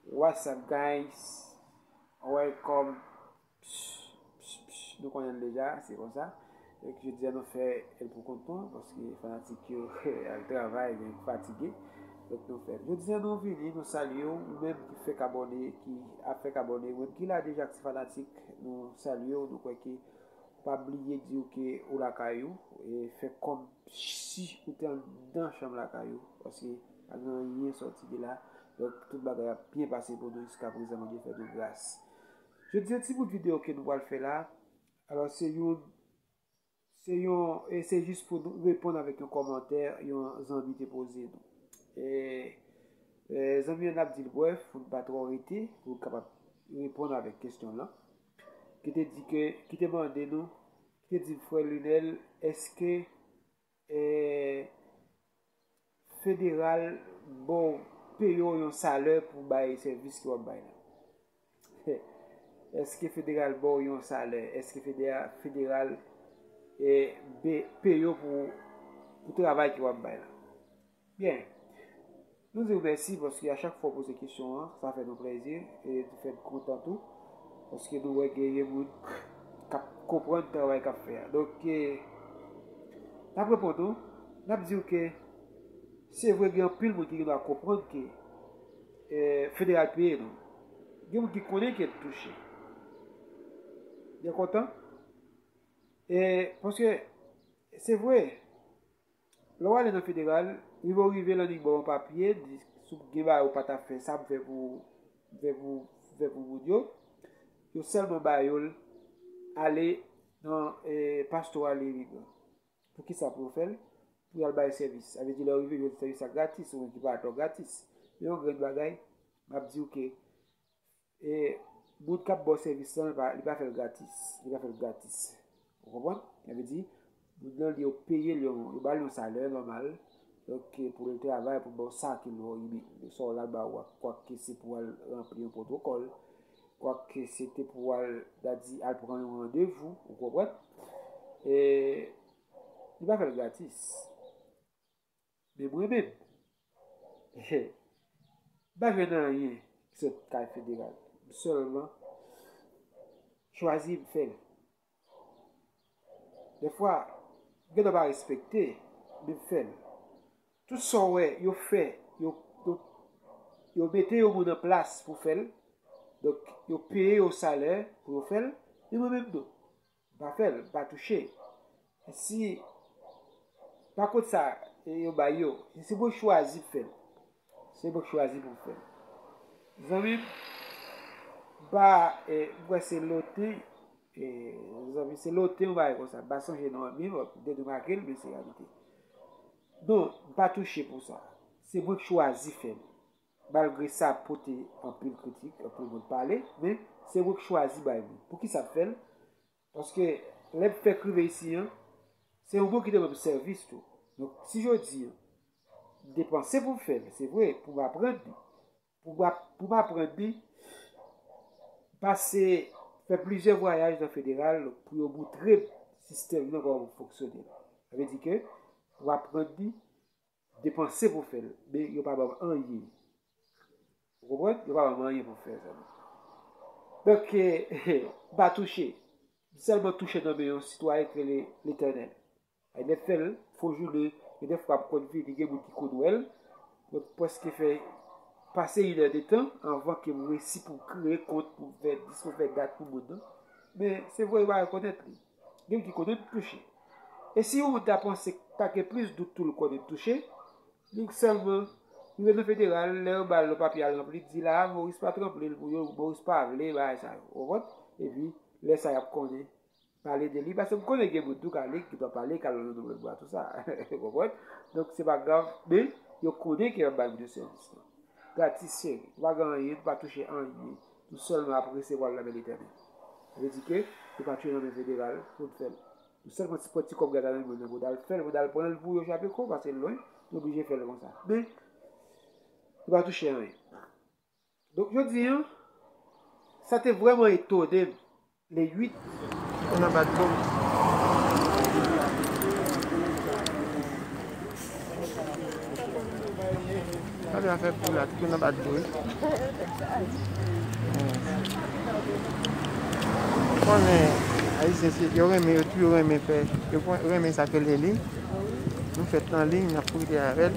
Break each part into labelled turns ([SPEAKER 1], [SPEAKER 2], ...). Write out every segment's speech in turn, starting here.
[SPEAKER 1] What's up guys Welcome Nou konnen deja se konsa Ek je diya nou fè el pou kont nou Paske fanatik yo al travay Yon ki fatige Ek nou fè Je diya nou vini nou salye ou Ou menm ki fèk abone Ki ap fèk abone Ou menm ki la deja ki fanatik Nou salye ou Nou kwè ke Pa bliye di ou ke ou lakay ou, e fè kòm si ou te anndan chanm lakay ou, paske Pa gen anyen sòti de la. Donk tout bagay ap byen pase pou nou jiska prezan Bondye fè nou gras. Jodi an ti bout video ke nou pral fè la alò se yon se yon e se jis pou nou reponn avèk yon kòmantè yon zanmi te poze nou. E e zanmi an nap dil brèf pou nou pa twò rete pou nou kapab reponn avèk kesyon lan. Ki te di ke ki te mande nou ki te di frè Lunel eske Federal ba w peye w yon salè pou w bay sèvis ke w ap bay la. Eske federal ba w yon salè? Eske federal peye w pou travay ke w ap bay la? Byen. Nou di w mèsi paske a chak fwa w poze kesyon an, sa fè nou plèzi e li fè n kontan tou paske nou wè genyen moun k ap konprann travay k ap fè a. Donk, n ap reponn ou, n ap di w ke se vre gen anpil moun ki gen dwa konprann ke federal peye nou. Gen moun ki konnen ke n touche. Yo kontan e paske se vre. Lè w ale nan federal, rive w rive lan li ba w yon papye, di si w gen bagay ou pa ta fè sa pou fè pou fè pou fè pou moun yo, yo sèlman ba yo l ale nan pastoral imigran. Pou ki sa pou yo fè l? Pou y al bay sèvis. Sa vle di lè w rive jwenn sèvis la gratis, ou menm ki pa atò gratis. Men yon grenn bagay, m ap di w ke E moun k ap ba w sèvis lan, li pa fè l gratis. Li pa fè l gratis. Ou konprann? Sa vle di, moun nan yo peye l, yo ba l yon salè nòmal, donk pou l travay, pou l ba w sa ki lò, sa w la l ba ou a. Kwak se pou al ranpli yon pwotokòl, kwak se te pou al, ta di, al pran yon randevou. Ou konprann? E li pa fè l gratis. Men mwen menm, he, m pa jwenn anyen ki sot kay federal. M sèlman chwazi m fè l. Dèfwa, m gentan pa respekte, men m fè l. Tout sa w wè yo fè, yo mete yon moun an plas pou fè l, donk yo peye yo salè pou yo fè l, men mwen menm non. M pa fè l, m pa touche. Si pa kont sa yo bay yo, se pou yo chwazi fè l. Se pou yo chwazi pou fè l. Zanmi m, m pa, m kwè se loten, zanmi, se loten yon bagay konsa. M pa sonje non an byen, ou te remake l, men se reyalite. Non, m pa touche pou sa. Se mwen k chwazi fè l. Malgre sa pote anpil kritik, anpil moun pale, men se mwen k chwazi bay li. Poukisa m fè l? Paske lè m fèk rive isi an, se yon moun ki te ban m sèvis tou. Donk si jodi an, m depanse pou m fè l, se vre, pou m aprann li, pou m aprann li, m pase fè plizyè vwayaj nan federal pou yo moutre m sistèm nan kòman pou l fonksyone. Sa vle di ke w aprann li, depanse pou fèl men yo pa banm anyen ou konprann yo pa banm anyen pou fèl zanmi donk m pa touche m sèlman touche nan men yon sitwayen ki rele letènèl ay nèt fèl fo jounen gen de fwa m konn vini gen moun ki konn wèl mwen preske fè pase inè de tan anvan ke m resi pou m kreye kont pou m fè dis pou m fè dat pou moun nan men se vre yo pa rekonèt li. Gen ki kote te touche. E si ou ta panse ta gen plis dout tou lkò te touche, li sèlman rive nan federal, lè yo ba l yon papye al ranpli, di la a Moris pat ranpli l pou yo, Moris pa vle bagay sa yo. Konprann? Epi, lè sa y ap konnen pale de li, paske m konnen gen moun tou ka li, ki t ap pale, k al nan Nouvèl Bwa, tou sa. Ou konprann? Donk, se pa grav, men, yo konnen ke y ap bay moun yo sèvis lan. Gratis, cheri. Ou pa gen anyen, ou pa touche anyen. Nou sèlman ap resevwa l nan men Letènèl. Sa vle di ke yo pa tjou nan men federal pou n fè l. Nou sèlman ti pran ti kòb gaz la nan men yo pou n al fè l, pou n al pran l pou yo chape kou paske l lwen, nou oblije fè l konsa. Men, yo pa touche anyen. Donk jodi an, sa te vrèman etone m. Le 8 on a bat bon.
[SPEAKER 2] Sa gen afè pou la ti konn nan bat bon wi. Ou konnen ayisyen se yo renmen yo toujou renmen fè yo renmen sa ke leli nou fèt nan liy nap profite avèl.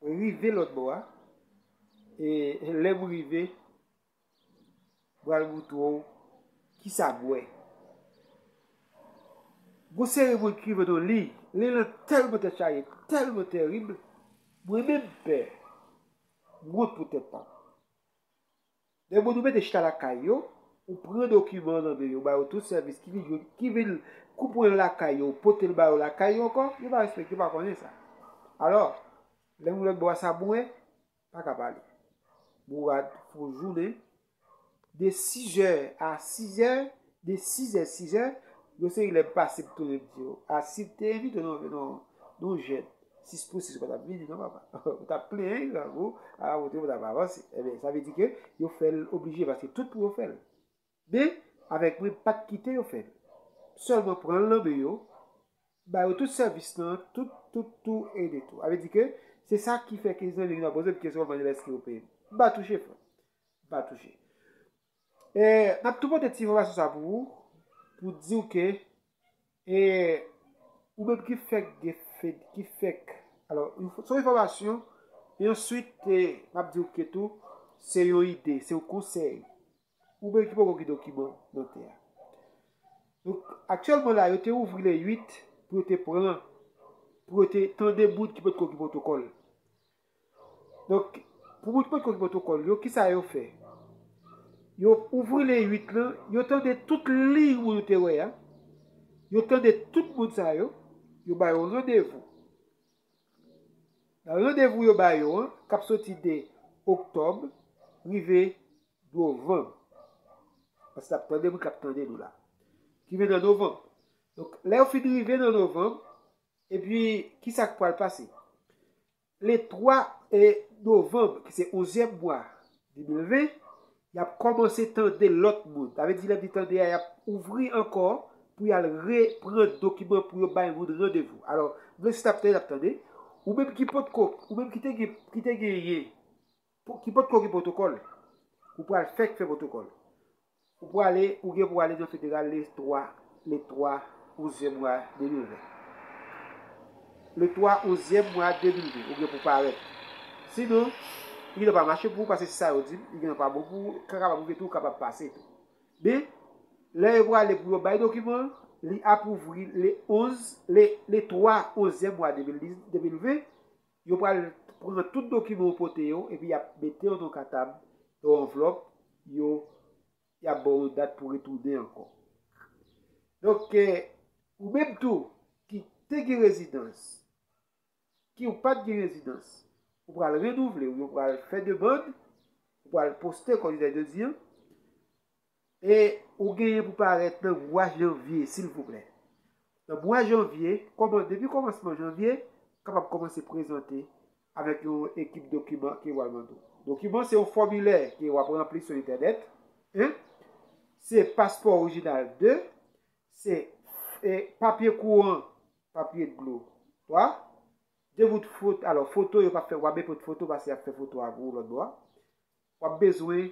[SPEAKER 1] Mwen rive lòt bò a. E lè m rive, m pral montre w ki sa m wè. Gon seri moun ki rive nan yon liy, liy lan tèlman tèt chaje, tèlman terib, mwen menm m pè. M wont pou tèt pa m. Nèg vodou mete chita lakay yo, ou pran dokiman nan men yo, ba yo tout sèvis ki vin jwenn, ki vin kou pran l lakay yo, ou pote l ba yo lakay yo ankò, yo pa respekte, yo pa konnen sa. Alò, lè moun lòtbò a sa boure, pa ka pale. Bourad fè yon jounen, de sizè a sizè, De sizè sizè, yon seri lè m pase m tounen m di yo, a si m te envite nou vin on nou jèn, sis pou sis ou pa t ap vini non papa. Ou t ap plenyen grangou, a kote ou t ap avanse. Enben, sa vle di ke yo fè l oblije paske tout pou yo fè l. Men, avèk mwen, m pa t kite yo fè l. M sèlman pran l nan men yo, m ba yo tout sèvis nan, tout, tout, tou e de tou. A vle di ke se sa ki fè ke zanmi vin ap poze m kesyon pou m mande l èske yo peye m. M pa touche frè m. M pa touche. E nap tou pote ti enfòmasyon sa pou ou pou diw ke e ou menm ki fèk gen fed ki fèk alò son enfòmasyon e answit e map diw ke tou se yon ide se yon konsèy ou menm ki poko gen dokiman dantè a donk aktyèlman la yo te ouvri le 8 pou yo te pran pou yo te tande moun ki potko gen pwotokòl. Donk, pou moun ki pa t konn pwotokòl yo, ki sa yo fè? Yo ouvri liy 8 lan, yo tande tout liy moun yo te wè a, yo tande tout moun sa yo, yo ba yo randevou. Nan randevou yo ba yo an, k ap soti de oktòb rive novanm, paske n ap tande moun k ap tande nou la, ki vle nan novanm. Donk, lè yo fin rive nan novanm, epi ki sa k pral pase? Le 3 novanm, ki se onzyèm mwa 2020, y ap kòmanse tande lòt moun. Sa vle di lè di tande a, y ap ouvri ankò pou y al repran dokiman pou yo bay moun randevou. Alò, m vle si t ap tande, t ap tande. Ou menm ki potko, ou menm ki te genyen Pou ki potko gen protokòl? Ou pral fèk fè protokòl. Ou prale ou gen pou ale nan federal le 3 le 3 onzyèm mwa 2020. Le 3 onzyèm mwa 2020 ou gen pou parèt. Sinon, li gen dwa pa mache pou ou pase se sa yo di m, li gen dwa pa bon pou ou, ka kapab rive tou ou kapab pase tou. Men, lè yo prale pou yo bay dokiman an, li apwouvri le 11, le 3 onzyèm mwa 2020, Yo pral pran tout dokiman ou pote yo epi yap mete yo nan katab, yon anvlòp, yo yap baw yon dat pou retounen ankò. Donk ou menm tou ki te gen rezidans, ki ou pat gen rezidans, ou pral renouvle ou yo pral fè demand, ou pral poste kòm jodi an. E ou genyen pou parèt nan mwa janvye silvouplè. Nan mwa janvye, kòman depi kòmansman janvye, kapab kòmanse prezante avèk yon ekip dokiman ke wal mande w. Dokiman se yon fòmilè ke wap ranpli sou entènèt 1, se paspò orijinal 2, se e papye kouran, papye dlo 3, 2 bout fot alò foto yo pap fè wap bepot foto pase yap fè foto a pou ou lòt bò a. Wap bezwen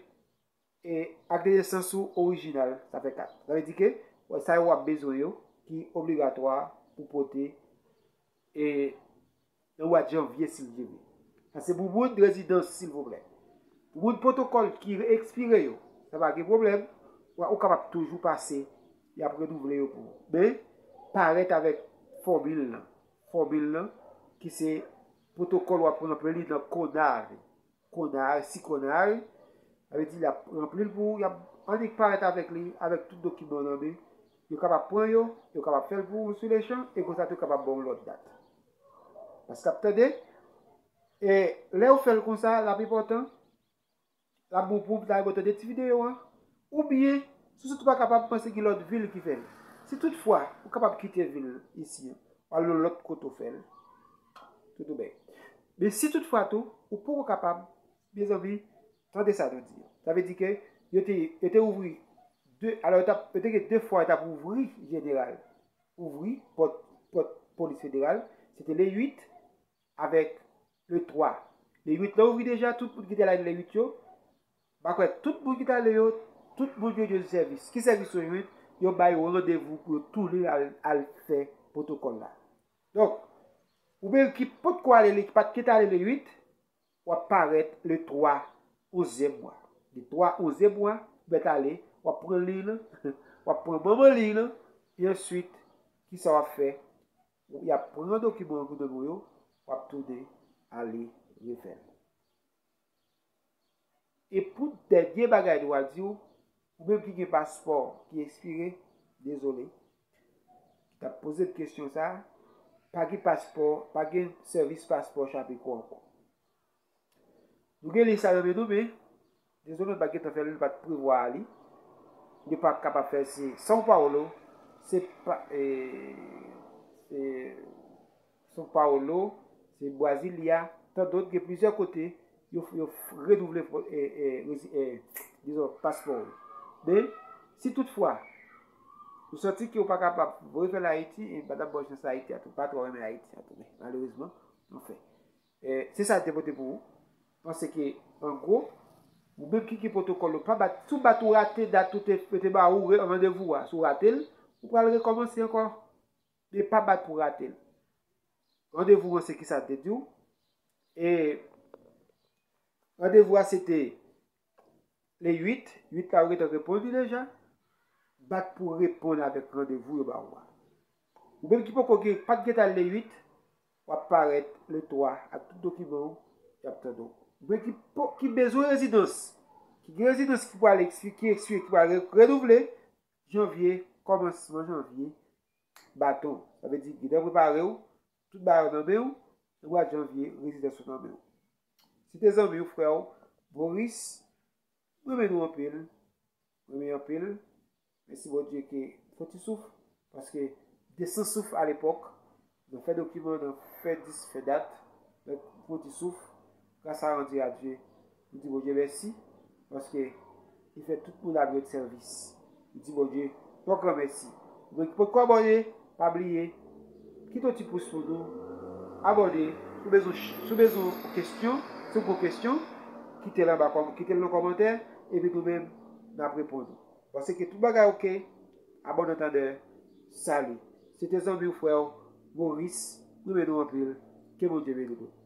[SPEAKER 1] E ak de nesans ou orijinal, sa fè 4. Sa vle di ke wè sa yo w ap bezwen yo ki obligatwa pou pote e nan mwa janvye si Bndye vle. Sa se pou moun rezidans silvouplè. Pou moun pwotokòl ki ekspire yo, sa pa gen pwoblèm, wè ou kapab toujou pase, y ap renouvle yo pou ou. Men, parèt avèk fòmil lan. Fòmil lan ki se pwotokòl w ap ranpli nan KONAVE. Konar, si konar, sa vle di l ap ranpli l pou ou, y ap annik parèt avèk li, avèk tout dokiman w nan men, yo kapab pran yo, yo kapab fè l pou ou sou lechan, e konsa tou kapab ba w lòt dat. Paske l ap tande, e lè yo fè l konsa, laplipa tan, l ap bon pou ou, pou ta rive w tande ti videyo an, Oubyen, si w sot ou pa kapab panse ki lòt vil ki fè l. Si tout fwa ou kapab kite vil isi an, w al yon lòt kote w fè l. Tout ou bèy. Men si tout fwa tou, ou poko kapab, mezanmi, tande sa nou di. Sa vle di ke yo te, yo te ouvri 2, alò yo tap, yo te gen 2 fwa yo tap ouvri jeneral, ouvri pòt, pòt polis federal, se te le 8. avèk le 3. Le 8 lan ouvri deja, tout moun ki te ale le 8 yo, m pa kwè tout moun ki te ale yo, tout moun yo jwenn sèvis. Ki sèvis yo jwenn? Yo ba yo randevou pou yo tounen al fè pwotokòl la. Donk, ou menm ki potko ale le, ki pa t ki te ale le 8, w ap parèt le 3 onzyèm mwa. Le 3 onzyèm mwa, ou mèt ale, w ap pran liy lan, w ap pran manman liy lan, e answit, ki sa w ap fè? Ou yap pran dokiman an gouvenman yo wap tounen ale refèl. E pou dènye bagay nou a diw ou menm ki gen paspò ki espire dezole ki tap pozem kesyon sa pa gen paspò pa gen sèvis paspò chape kou ankò. Nou gen lis sa yo men nou men dezole pa gentan fèl nou pat prevwa li nou pa kapab fèl se São Paulo se pa se São Paulo se Brasilia tan dot gen plizyè kote yo yo renouvle dizon paspò ou men si tout fwa ou santi ke ou pa kapab voye fèl Ayiti e m pa tap baw chans Ayiti a tou m pa tro renmen Ayiti a tou malerezman anfen Se sa l te pote pou ou. Panse ke an gwo, ou menm ki gen pwotokòl ou pa bat, si w bat ou rate dat ou te, yo te ba ou randevou a, si w rate l, ou pral rekòmanse ankò. Men pa bat pou rate l. Randevou an se kisa l te di w? E randevou a se te Le 8, 8 la yo gentan reponn li deja. Bat pou reponn avèk randevou yo ba ou a. Ou menm ki poko gen, pat gentan le 8, wap parèt le 3 ak tout dokiman ou, yap tande w. Ou menm ki po, ki bezwen rezidans, ki gen rezidans ki pwale ekspire, ki ekspire, ki pwale renouvle, janvye, kòmansman janvye, baton. Sa vle di, gentan prepare w, Tout bagay nan men w, Edward Janvier rezidans ou nan men w. Si te zanmi w, frè w, Boris, m renmen nou anpil, renmen anpil, mèsi Bondye ke m fon ti souf, paske m te san souf alepòk, nan fè dokiman, nan fè dis, fè dat, donk m fon ti souf. Gras a randi a Dye. M di Bondye mèsi paske li fè tout moun ap jwenn sèvis. M di Bondye yon gran mèsi. Moun ki potko abòne, pa bliye kite yon ti pous pou nou, abòne, si w bezwen si w bezwen yon kesyon, si w gen yon kesyon, kite l anba kòm kite l nan kòmantè epi nou menm n ap reponn ou. Panse ke tout bagay ok, a bon antandè, salut. Se te zanmi w, frè w, Maurice, m renmen nou anpil, ke Bondye beni nou.